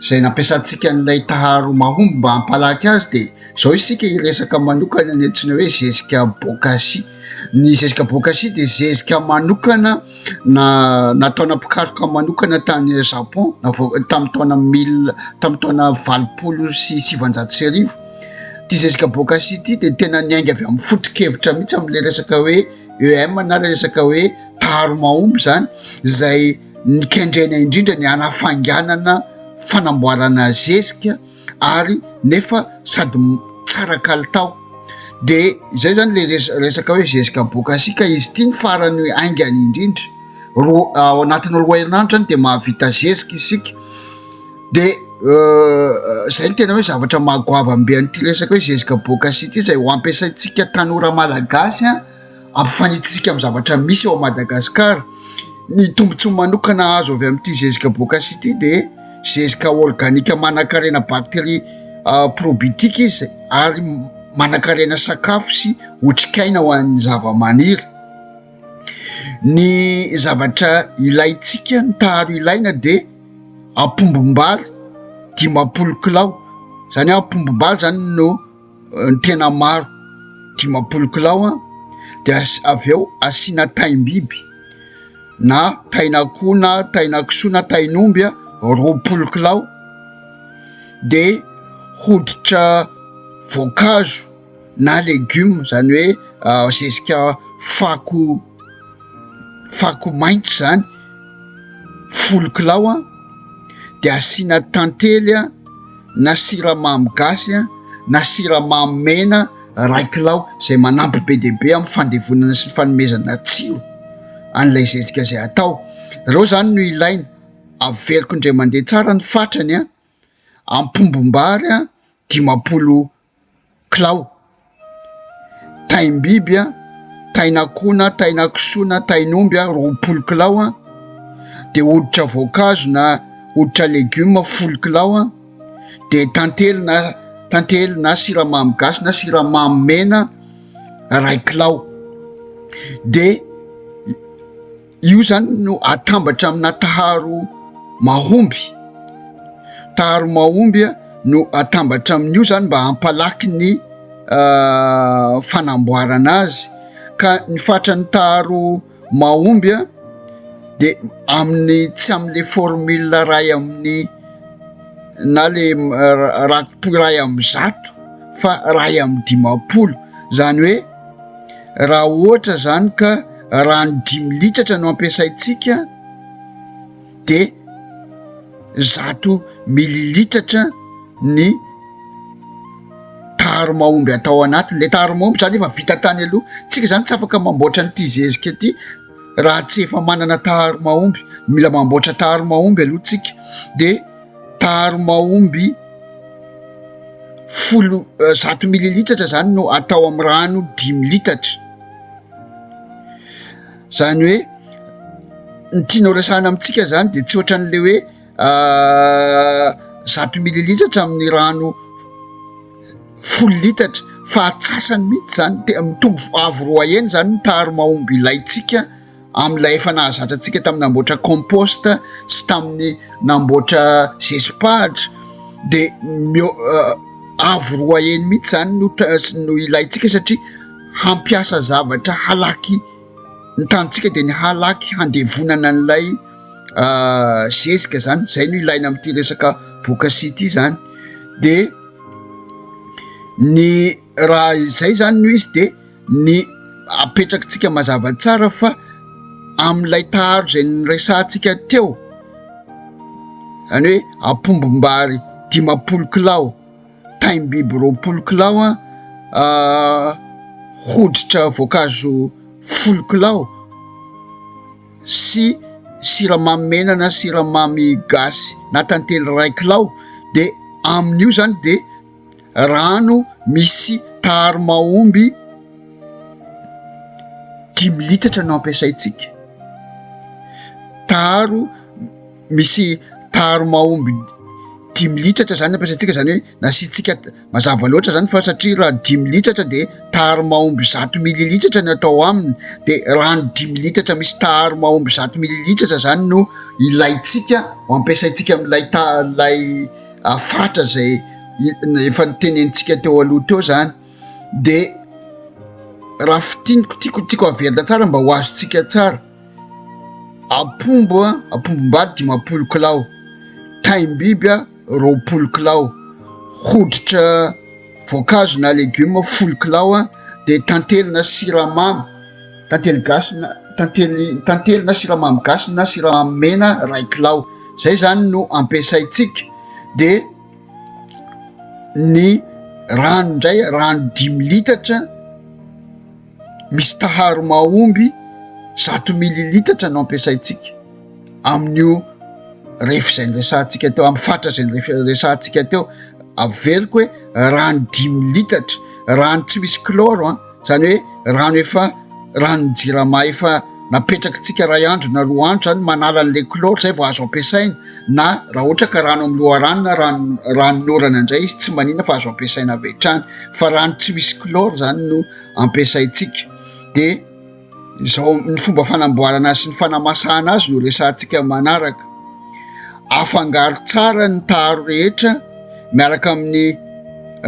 izay nampiasantsika an'ilay taharo mahomby mba hampalaky azy dia izao isika hiresaka manokana ny antsoina hoe zezika bokashi. Ny zezika bokashi dia zezika manokana na nataona mpikaroka manokana tany Japon navoaka tamin'ny taona mille tamin'ny taona valopolo sy sivanjato sy arivo. Ity zezika bokashi ity dia tena niainga avy amin'ny foto-kevitra mihitsy amin'ilay resaka hoe EM na ilay resaka hoe taharo mahomby izany izay ny kendrena indrindra ny hanafainganana fanamboarana zezika ary nefa sady tsara kalitao de zay zany le resaka hoe zezika bokasi ka izy ity ny farany hoe aingany indrindra roa ao anatin'ny roa herinandro zany de mahavita zezika isika de euh, zay ny tena hoe zavatra mahagoavambe an'ity resaka hoe zezika bokasi ity zay ho ampiasaintsika tanora malagasy a Ampifanintsintsika amin'ny zavatra misy ao Madagascar ny tombotsoa manokana azo avy amin'ity zezika bocas ity dia zezika organika manankarena bacterie probitique izy ary manankarena sakafo sy otrikaina ho an'ny zava-maniry ny zavatra ilaintsika ny taharo ilaina dia ampombom-bary dimampolo kilao zany ampombom-bary zany no ny tena maro dimampolo kilao dia avy eo asiana taim-biby na tain'akoho na tainankisoa na tain'omby a roapolo kilao de hoditra voankazo na legioma zany hoe zezika fako fako maitso zany folo kilao a de asiana tantely a na siramamy gasy na siramamy mena iray kilao izay manampy be dia be amin'ny fandevonana sy ny fanomezana tsiro an'ilay zezika izay atao. Ireo izany no ilaina. Averiko indray mandeha tsara ny fatrany an! Ampombom-bary an! Dimampolo kilao, taim-biby, tain'akoho na tainankisoa na tain'omby roapolo kilao, dia hoditra voankazo na hoditra legioma folo kilao, dia tantely na tantely na siramamy gasy na siramamy mena iray kilao dia. Io zany no atambatra amina taharo mahomby. Taharo mahomby no atambatra amin'io zany mba hampalaky ny fanamboarana azy. Ka ny fatran'ny taharo mahomby de amin'ny tsy amin'le formule ray amin'ny na le rakoto ray amin'ny zato fa ray amin'ny dimampolo zany hoe. Raha ohatra izany ka rano dimy litatra no ampiasaintsika dia zato mililitatra ny tari-mahomby atao anatiny, ilay tari-mahomby izany efa vita tany aloha, isika izany tsy afaka mamboatra an'ity zezika ity raha tsy efa manana tari-mahomby, mila mamboatra tari-mahomby aloha isika dia. daharo mahomby folo zato mililitatra zany no atao amin'ny rano dimy litatra zany hoe ny tianao resahana amintsika zany de tsy ohatran'le hoe ah, zato mililitatra amin'ny rano folo litatra fa atsasany mihitsy zany de mitombo avo roa heny zany ny taharo mahomby ilaintsika amin'ilay efa nahazatra antsika tamin'ny namboatra compost sy tamin'ny namboatra zezi-pahatra de meo- euh, avo roa heny mihitsy zany no ta- no ilaintsika satria hampiasa zavatra halaky ny tanintsika de ny halaky handevonana an'ilay euh, zezika zany zay no ilaina amin'ity resaka bokasi ity zany de ny raha izay zany no izy de ny apetrakitsika mazava tsara fa amin'ilay taharo izay niresahantsika teo, izany hoe apombom-bary dimampolo kilao, taim-biby roapolo kilao, hoditra voankazo folo kilao sy siramamy mena na siramamy gasy na tantely iray kilao dia amin'io izany dia. rano misy tary mahomby dimy litatra no ampiasaintsika, tary misy tary mahomby dimy litatra zany ampiasaintsika zany hoe nasiantsika mazava loatra zany fa satria raha dimy litatra de tary mahomby zato mililitatra no atao aminy de rano dimy litatra misy tary mahomby zato mililitatra zany no ilaintsika ho ampiasaintsika amin'ilay ta- ilay. hafatra izay efa nitenenintsika teo aloha teo izany dia raha fitiniko tiako tiako havelona tsara mba ho azontsika tsara ampombo a ampombom-bady dimampolo kilao taim-biby a roapolo kilao hoditra voankazo na legioma folo kilao a dia tantely na siramamy Tantely gasy na tantely tantely na siramamy gasy na siramamy mena iray kilao zay zany no ampiasaintsika de ny rano ndray rano dimy litatra misy taharo mahomby zato mililitatra no ampiasaintsika amin'io refy zay nyresahantsika teo amin'ny fatra zay nyrefy resahantsika teo averiko hoe rano dimy litatra rano tsy misy kloro an Izany hoe rano efa, ranon'ny jirama efa napetrakitsika iray andro na roa andro izany, manala an'ilay chlore izay vao azo ampiasaina, na raha ohatra ka rano amin'ny loharano na rano, ranon'orana indray izy tsy maninona fa azo ampiasaina avy hatrany, fa rano tsy misy chlore izany no ampiasaintsika. Dia. Izao ny fomba fanamboarana azy sy ny fanamasahana azy no resahantsika manaraka. Afangaro tsara ny taharo rehetra miaraka amin'ny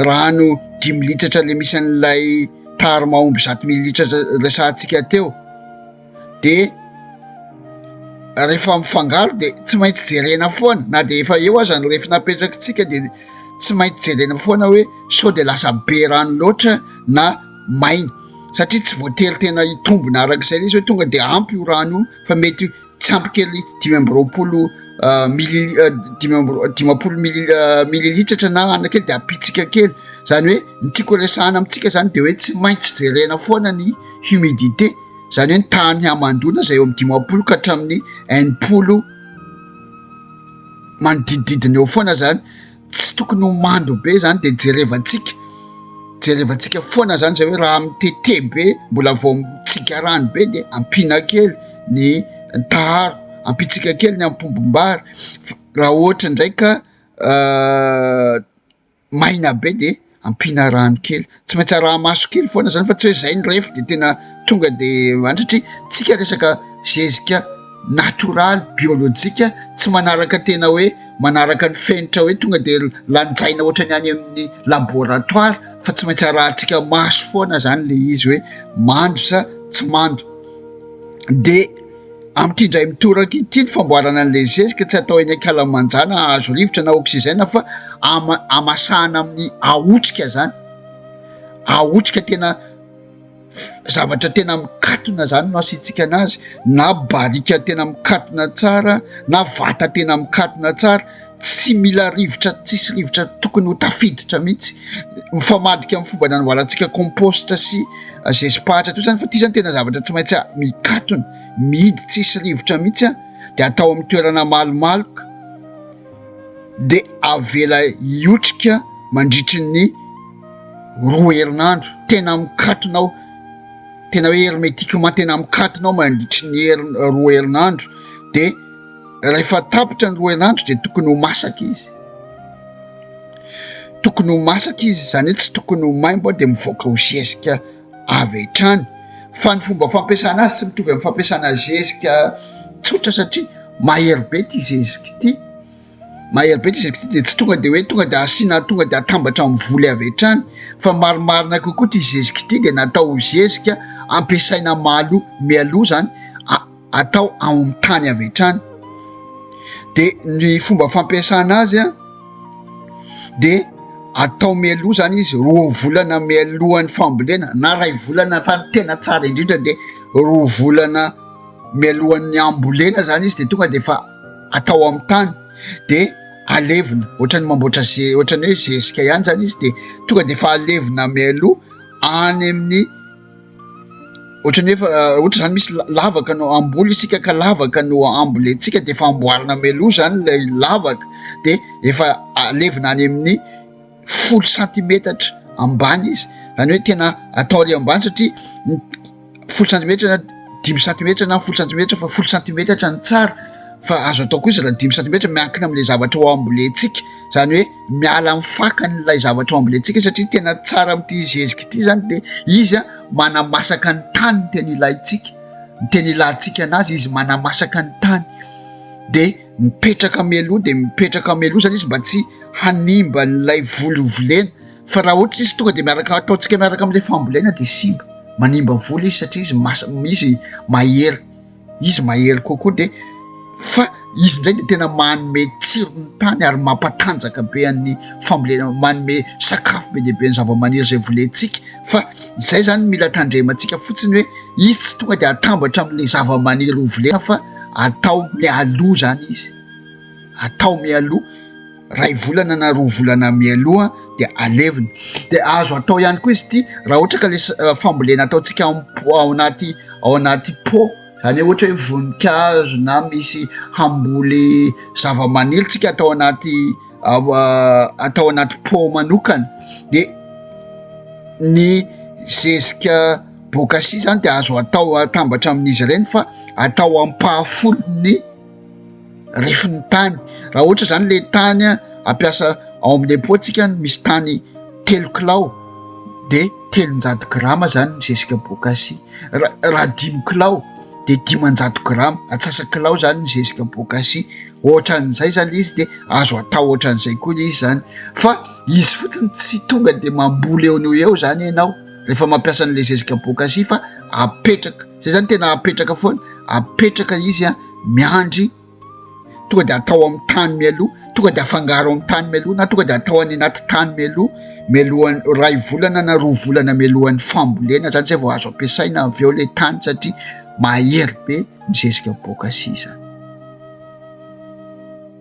rano dimy litatra le misy an'ilay taharo mahomby zato mililitratra resahantsika teo de rehefa mifangaro de tsy maintsy jerena foana na de efa eo aza ny refy napetrakitsika de tsy maintsy jerena foana hoe sao de lasa be rano loatra na maina satria tsy voatery tena hitombina araka izay izy hoe tonga dia ampy io rano io fa mety tsy ampy kely dimy amby roapolo euh, mili euh, dimy amby euh, dimampolo mili mililitratra na ana kely de ampitsika kely zany hoe ny tiako resahana amintsika zany de hoe tsy maintsy jerena foana ny humidité zany hoe ny tany hamandoana zay eo am'ny dimampolo ka hatramin'ny enimpolo manodidididina eo foana zany tsy tokony ho mando be zany de jerevantsika jerevantsika foana zany zay hoe raha mitete be mbola vao mitsikarano be de ampina kely ny taharo ampitsika kely ny ampombombary raha ohatra ndraika maina be de ampiana rano kely, tsy maintsy araha maso kely foana zany fa tsy hoe zay ny ref de tena tonga de any satria tsika resaka zezika natoraly biolojika tsy manaraka tena hoe manaraka ny fenitra hoe tonga de lanjaina ohatrany any amin'ny laboratoara fa tsy maintsy arahantsika maso foana zany le izy hoe mando sa tsy mando de Amin'ity indray mitoraka ity ny famboarana an'ilay zezika tsy atao eny an-kalamanjana hahazo rivotra na oxygène fa ama- amasahana amin'ny ahotrika zany. Ahotrika tena f- zavatra tena mikatona zany no asiantsika anazy na barika tena mikatona tsara na vata tena mikatona tsara. tsy mila rivotra, tsisy rivotra tokony ho tafiditra mihitsy, mifamadika amin'ny fomba nanaboarantsika compost sy zezipahatra toy izany fa ity izany tena zavatra tsy maintsy mikatona, mihidy tsisy rivotra mihitsy an, dia atao amin'ny toerana malomaloka dia avela hiotrika mandritry ny roa herinandro, tena mikatona aho, tena hoe hermétiquement tena mikatona aho mandritry ny herinandro, roa herinandro dia. Rehefa tapitra ny roa herinandro dia tokony ho masaka izy. Tokony ho masaka izy, izany hoe tsy tokony ho maimbo dia mivoaka ho zezika avy hatrany. Fa ny fomba fampiasana azy tsy mitovy amin'ny fampiasana zezika tsotra satria mahery be ity zezika ity. Mahery be ity zezika ity dia tsy tonga dia hoe tonga dia asiana tonga dia atambatra amin'ny voly avy hatrany fa marimarina kokoa ity zezika ity dia natao ho zezika ampiasaina malo mialoha izany. atao ao amin'ny tany avy hatrany. Dia ny fomba fampiasana azy a, dia atao mialoha zany izy roa volana mialohan'ny fambolena na iray volana fa ny tena tsara indrindra dia roa volana mialohan'ny hambolena zany izy dia tonga dia efa atao amin'ny tany dia alevina ohatran'ny mamboatra ze ohatran'ny hoe zezika ihany zany izy dia tonga dia efa alevina mialoha any amin'ny Ohatrany efa ohatra zany misy lavaka no amboly isika ka lavaka no ambolentsika de efa amboarina meloa zany lay lavaka de efa alevina any amin'ny folo santimetatra ambany izy zany hoe tena atao ary ambany satria folo santimetatra na dimy santimetatra na folo santimetatra fa folo santimetatra ny tsara fa azo atao kosa raha dimy santimetatra miankina am'le zavatra ho ambolentsika izany hoe miala amin'ny fakany ilay zavatra ambolentsika satria tena tsara amin'ity zezika ity izany dia izy a manamasaka ny tany ny teny ilaintsika ny teny ilantsika an'azy izy manamasaka ny tany dia mipetraka meloha dia mipetraka meloha izany izy mba tsy hanimba n'ilay voly ho volena fa raha ohatra izy tonga dia miaraka ataontsika miaraka amin'ilay fambolena dia simba manimba voly izy satria izy masa misy mahery Izy mahery kokoa dia fa izy indray dia tena manome tsiro ny tany ary mampatanjaka be an'ny fambolena, manome sakafo be dia be ny zavamaniry izay volentsika fa izay izany no mila tandremantsika fotsiny hoe izy tsy tonga dia atambatra amin'ilay zavamaniry hovolena fa atao mialoha izany izy, atao mialoha. iray volana na roa volana mialoha dia alevina dia azo atao ihany koa izy ity raha ohatra ka ilay fambolena ataontsika ao am-po- ao anaty ao anaty pot izany hoe ohatra hoe voninkazo na misy hamboly zava-maniry tsika atao anaty atao anaty pot manokana dia ny zezika bokasia izany dia azo atao atambatra amin'izy ireny fa atao ampahafolony refin'ny tany raha ohatra izany le tany ampiasa ao amin'ny depot tsika ny misy tany telo kilao de telonjato grama zany ny zezika bokasi raha dimy kilao de dimanjato grama atsasa kilao zany ny zezika bokasi ohatra an'izay zany izy de azo atao ohatra an'izay koa izy zany fa izy fotsiny tsy tonga de mamboly eo no eo zany ianao rehefa mampiasa an'le zezika bokasi fa apetraka zay zany tena apetraka foana apetraka izy a miandry tonga de atao amin'ny tany mialoha tonga de afangaro amin'ny tany mialoha na tonga de atao any anaty tany mialoha mialohan'ny iray volana na roa volana mialohan'ny fambolena zany zay vao azo ampiasaina avy eo le tany satria mahery be ny zezika boaka sisa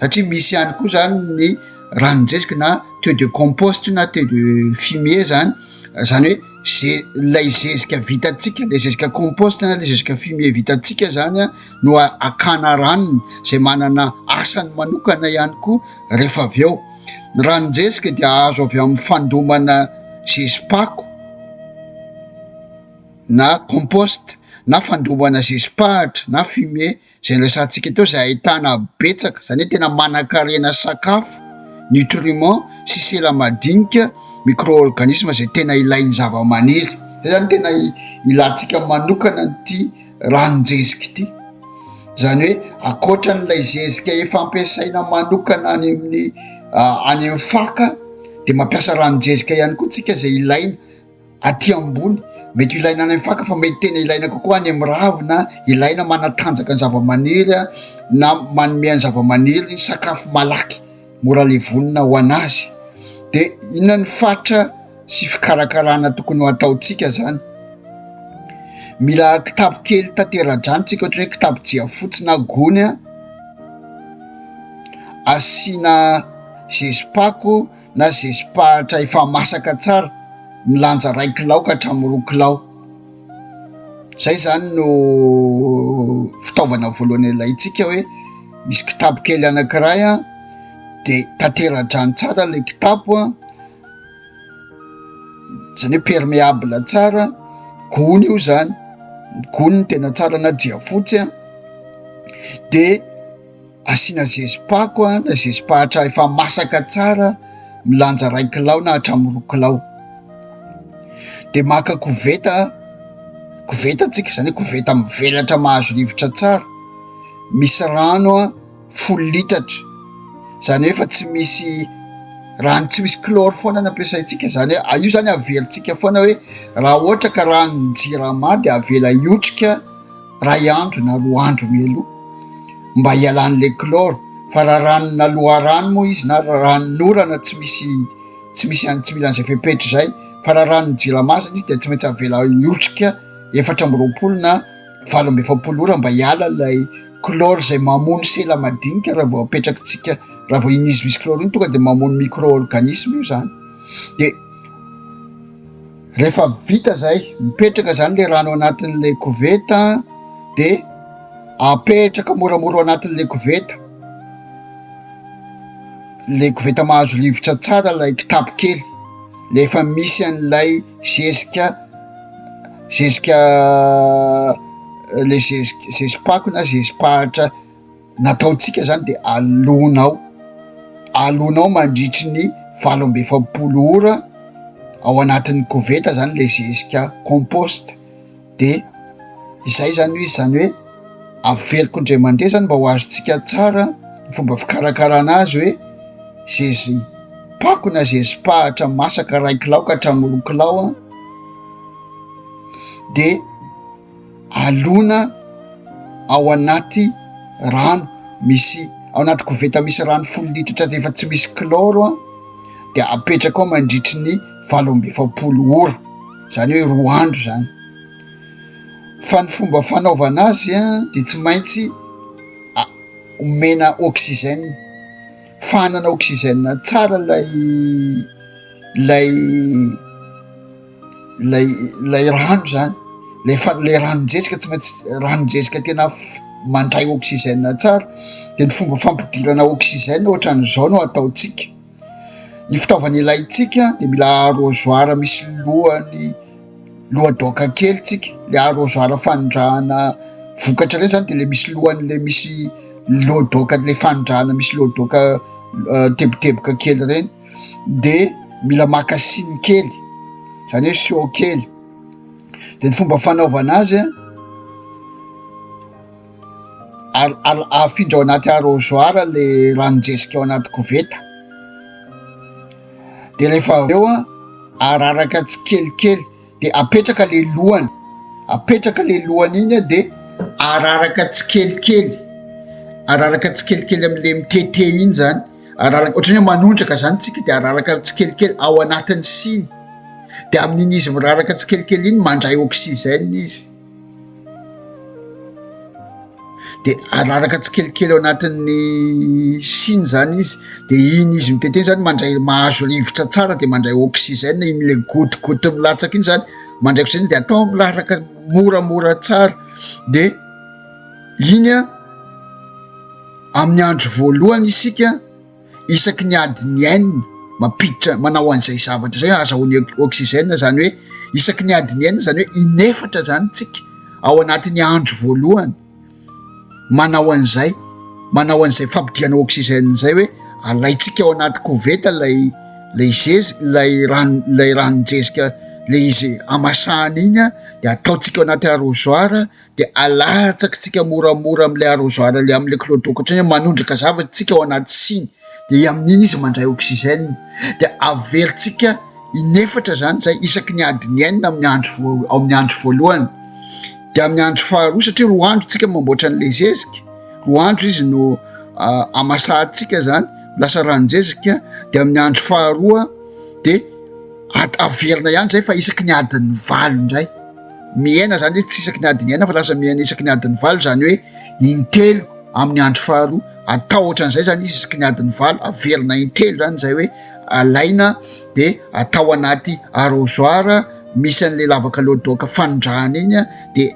satria misy ihany koa zany ny ranon-jeziky na taux de compost na taux de fumier zany zany hoe ze lay zezika vitantsika le zezika compost na le zezika fumier vitantsika zany a no akana ranony zay manana asany manokana ihany koa rehefa avy eo ny ranon-jezika dia azo avy amin'ny fandomana zezi-pako na compost na fandomana zezi-pahatra na fumier Izay resahantsika eto izay ahitana betsaka, izany hoe tena manankarena sakafo, nutriments, sy sela madinika, micro-organismes, izay tena ilain'ny zavamaniry. Izay izany tena ilantsika manokana an'ity ranon-jezika ity. Izany hoe ankoatra an'ilay zezika efa ampiasaina manokana any amin'ny any amin'ny faka dia mampiasa ranon-jezika ihany koa isika izay ilaina. Aty ambony, mety ho ilaina any amin'ny faka fa mety tena ilaina kokoa any amin'ny ravina, ilaina manatanjaka ny zavamaniry na manome an'ny zavamaniry sakafo malaky mora levonina ho an'azy. Dia inona ny faritra sy fikarakarana tokony ho ataontsika zany? Mila kitapo kely tatera-drano tsika ohatra hoe kitapo jiafotsy na gony asiana zezi-pako. na zezi-pahatra efa masaka tsara milanja iray kilao ka hatramin'ny roa kilao, izay zany no fitaovana voalohany ilaintsika hoe misy kitapo kely anankiray a, de tatera-drano tsara ilay kitapo a, zany hoe permeable tsara, gony io zany, gony no tena tsara na jiafotsy a, de. Asiana zezi-pako na zezi-pahatra efa masaka tsara milanja iray kilao na hatramin'ny roa kilao. Dia maka koveta, koveta tsika izany hoe koveta mivelatra mahazo rivotra tsara, misy rano folo litatra, izany hoe efa tsy misy rano tsy misy chlore foana no ampiasaintsika izany hoe a- io izany averintsika foana hoe raha ohatra ka ranon-jirama dia avela hiotrika. iray andro na roa andro mialoha mba hialan'ilay chlore fa raha ranona loharano moa izy na ranon'orana tsy misy tsy misy any tsy mila an'izay fepetra izay fa raha ranon'ny jirama izany izy dia tsy maintsy avela hiotrika efatra amby roapolo na valo amby efapolo ora mba hiala ilay chlore izay mamono sela madinika raha vao apetrakitsika raha vao iny izy misy chlore iny tonga dia mamono micro-organisme io izany dia Rehefa vita izay, mipetraka izany ilay rano anatin'ilay koveta dia apetraka moramora ao anatin'ilay koveta, ilay koveta mahazo rivotra tsara ilay kitapo kely, ilay efa misy an'ilay zezika zezika ilay zezi- zezi-pako na zezi-pahitra. ny ataontsika izany dia alona ao, alona ao mandritry ny valo amby efapolo ora ao anatin'ny koveta izany ilay zezika compost dia izay izany ho izy, izany hoe averiko indray mandeha izany mba ho azontsika tsara ny fomba fikarakarana azy hoe zezi-pako na zezi-pahatra masaka iray kilao ka hatramin'ny roa kilao dia. alona ao anaty rano misy ao anaty koveta misy rano folo litatra dia efa tsy misy kilôro an dia apetraka ao mandritry ny valo amby efapolo ora zany hoe roa andro zany fa ny fomba fanaovana azy an dia tsy maintsy omena oxygène fa hanana oxygène tsara lay lay ilay ilay rano zany lay fa lay ranonjezika tsy maintsy ranonjezika tena mandray oxygène tsara de ny fomba fampidirana oxygène ohatran'izao no ataontsika ny fitaovana ilaintsika de mila arrosoir misy lohany lohadoaka kely tsika le arrosoir fanondrahana vokatra reny zany de le misy lohan'le misy lohadoaka le fanondrahana misy lohadoaka teboteboka kely reny de mila maka siny kely zany hoe siô kely de ny fomba fanaovana azy a al- al- afindra ao anaty arrosoir le ranon-jezika ao anaty koveta de rehefa avy eo a araraka tsikelikely dia apetraka le lohany apetraka le lohany iny a de araraka tsikelikely araraka tsikelikely amle mitete iny zany araraka ohatrany hoe manondraka zany tsika de araraka tsikelikely ao anatin'ny siny de amin'iny izy miraraka tsikelikely iny mandray oksizena izy de araraka tsikelikely ao anatin'ny siny zany izy de iny izy mitete zany mandray mahazo rivotra tsara de mandray oxygène iny le gotigoty milatsaka iny zany mandray oxygène de atao milaraka moramora tsara de iny a amin'ny andro voalohany isika isaky ny adiny enina mampiditra manao an'izay zavatra izay azahoany oxygène izany hoe isaky ny adiny enina izany hoe inefatra izany tsika ao anatin'ny andro voalohany manao an'izay manao an'izay fampidihana oxygène izay hoe alaitsika ao anaty koveta lay lay zezy lay rano lay ranon-jezika le izy amasahana iny dia ataontsika ao anaty arrosoir dia alatsakitsika moramora amin'ilay arrosoir ilay amin'ilay clodo ohatrany hoe manondraka zavatra isika ao anaty siny dia amin'iny izy mandray oxygène dia avelotsika inefatra izany izay isaky ny adiny enina amin'ny andro vo amin'ny andro voalohany dia amin'ny andro faharoa satria roa andro tsika mamboatra an'ilay zezika roa andro izy no ah, amasahantsika izany lasa ranonjezika dia amin'ny andro faharoa dia averina ihany izay fa isaky ny adin'ny valo indray Mihena izany hoe tsy isaky ny adiny enina fa lasa mihena isaky ny adiny valo, izany hoe intelo amin'ny andro faharoa. Atao ohatran'izay izany izy isaky ny adiny valo, averina intelo izany izay hoe alaina dia atao anaty arrosoir misy an'ilay lavaka loadoaka fanondrahana iny dia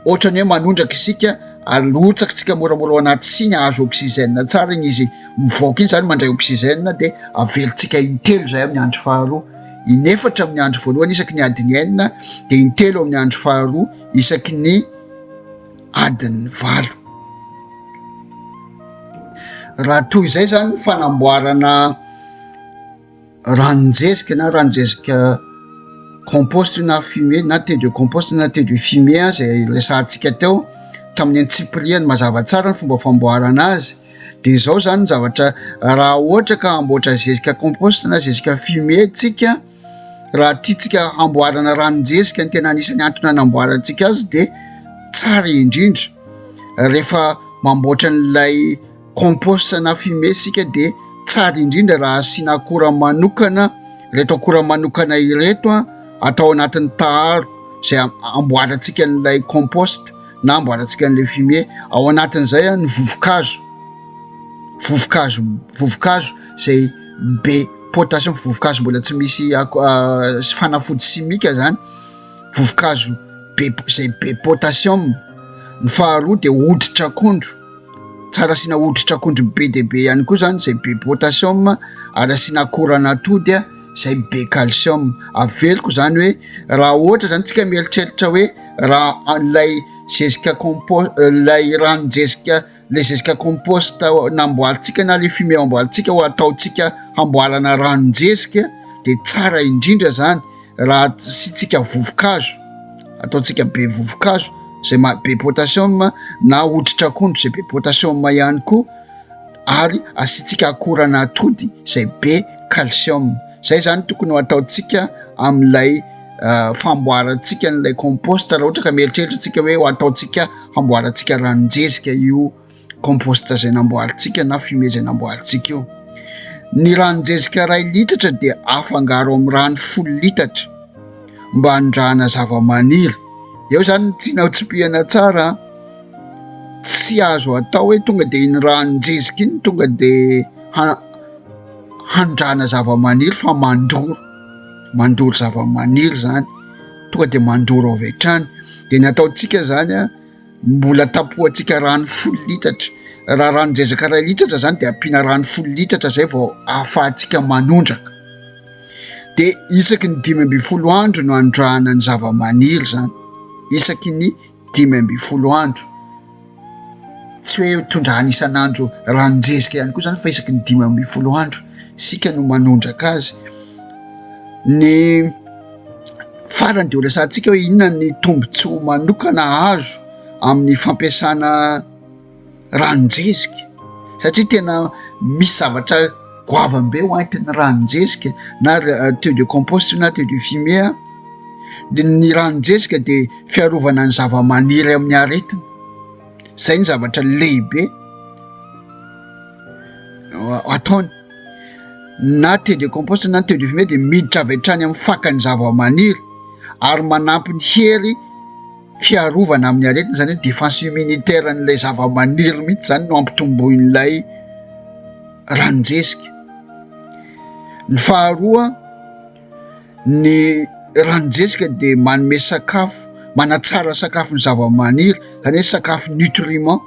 ohatran'ny hoe manondraka isika, arotsakintsika moramora ao anaty siny hahazo oxygène tsara iny izy mivoaka iny izany, mandray oxygène dia averintsika intelo izay amin'ny andro faharoa. inefatra amin'ny andro voalohany isaky ny adiny enina dia intelo amin'ny andro faharoa isaky ny adiny valo raha toy izay zany ny fanamboarana ranonjezika na ranonjezika composte na fumie na te de composte na te de fumie a zay resahantsika teo tamin'ny antsipiriany mazava tsara ny fomba famboarana azy Dia izao izany ny zavatra raha ohatra ka hamboatra zezika compost na zezika fumier tsika, raha tiantsika hamboarana ranon-jezika ny tena anisan'ny antony hanamboarantsika azy dia tsara indrindra rehefa mamboatra an'ilay compost na fumier isika dia tsara indrindra raha asiana akora manokana, ireto akora manokana ireto atao anatin'ny taharo izay amboarantsika an'ilay compost. na amboarantsika an'ilay fumier ao anatin'izay a ny vovokazo vovokazo vovokazo zay be potassium vovokazo mbola tsy misy ako fanafody simika zany vovokazo be zay be potassium ny faharoa de hoditr'akondro tsara asiana hoditr'akondro be de be ihany koa zany zay be potassium ary asiana akora anatody a izay be calcium. Averiko izany hoe raha ohatra izany tsika mieritreritra hoe raha an'ilay zezika compost ilay ranon-jezika ilay zezika compost namboarintsika na ilay fumier amboarintsika ho ataontsika hamboarana ranon-jezika dia tsara indrindra izany raha asiantsika vovo-kazo, ataontsika be vovo-kazo izay maha-be potassium na hoditrak'ondry izay be potassium ihany koa. ary asiantsika akoran'atody izay be calcium. Izay izany tokony ho ataontsika amin'ilay famboarantsika an'ilay compost raha ohatra ka mieritreritra tsika hoe ho ataontsika hamboarantsika ranon-jezika io compost izay namboarintsika na fumier izay namboarintsika io. Ny ranon-jezika iray litatra dia afangaro amin'ny rano folo litatra mba hanondrahana zava-maniry. Eo izany ny tianao tsipihana tsara. Tsy azo atao hoe tonga dia iny ranon-jezika iny tonga dia hanondrana zava-maniry fa mandoro, mandoro zava-maniry izany, tonga dia mandoro avy hatrany. Dia ny ataontsika izany an, mbola tapohantsika rano folo litatra. Raha ranon-jezaka iray litatra izany dia ampiana rano folo litatra izay vao ahafahantsika manondraka. Dia isaky ny dimy ambin'ny folo andro no anondrahana ny zava-maniry izany, isaky ny. dimy ambin'ny folo andro, tsy hoe tondrahana isan'andro ranon-dresaka ihany koa zany fa isaky ny dimy ambin'ny folo andro isika no manondraka azy, ny farany de ho resahantsika hoe inona ny tombotsoa manokana azo amin'ny fampiasana. ranon-dresika satria tena misy zavatra goavambe ho antin'ny ranon-dresika na taux de compost na taux de fumier a, dia ny ranon-dresika dia fiarovana ny zava-maniry amin'ny aretina, izay ny zavatra lehibe ataony na taux de compost na taux de fumier dia miditra avy hatrany amin'ny fakan'ny zava-maniry ary manampy ny hery. fiarovana amin'ny aretina, izany hoe défense immunitaire an'ilay zavamaniry mihitsy izany no hampitomboin'ilay ranon-jezika. Ny faharoa, ny ranon-jezika dia manome sakafo, manatsara sakafon'ny zavamaniry, izany hoe sakafo nutriment,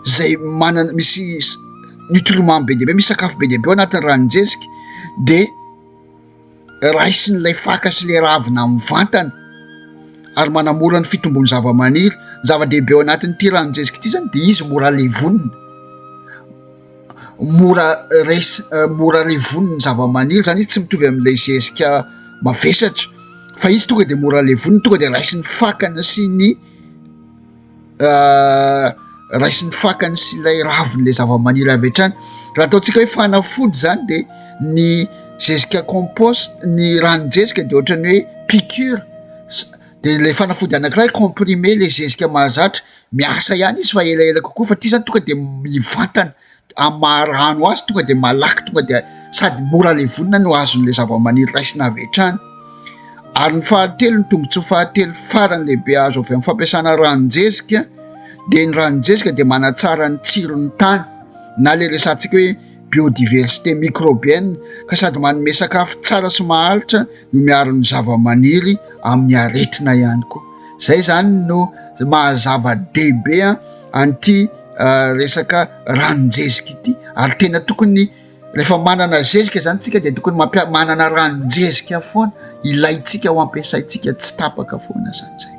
izay manana, misy nutriment be dia be, misy sakafo be dia be ao anatin'ny ranon-jezika dia. Raisiny ilay faka sy ilay ravina mivantana ary manamora ny fitombon'ny zavamaniry. Ny zava-dehibe ao anatin'ity ranon-jeziky ity izany dia izy mora levonina, mora res- mora levonina ny zavamaniry, izany izy tsy mitovy amin'ilay zezika mavesatra fa izy tonga dia mora levonina, tonga dia raisin'ny fakana sy ny. raisin'ny fakany sy ilay ravin'ilay zavamaniry avy hatrany. Raha ataontsika hoe fanafody izany dia ny zezika compost, ny ranon-jezika dia ohatran'ny hoe piqûre dia ilay fanafody anankiray comprimé ilay zezika mahazatra. Miasa ihany izy fa elaela kokoa fa ity izany tonga dia mivantana. Amin'ny maha rano azy tonga dia malaky tonga dia sady mora levonina no azon'ilay zavamaniry raisina avy hatrany. Ary ny fahatelo, ny tombontsoa fahatelo farany lehibe azo avy amin'ny fampiasana ranon-jezika dia ny ranon-jezika dia manatsara ny tsiron'ny tany na ilay resahantsika hoe biodiversité microbienne ka sady manome sakafo tsara sy maharitra no miaro ny zavamaniry amin'ny aretina ihany koa. Izay izany no maha zava-dehibe an! an'ity resaka ranon-jezika ity ary tena tokony rehefa manana zezika zany tsika dia tokony mampia- manana ranon-jezika foana ilaintsika ho ampiasaintsika tsy tapaka foana zany zay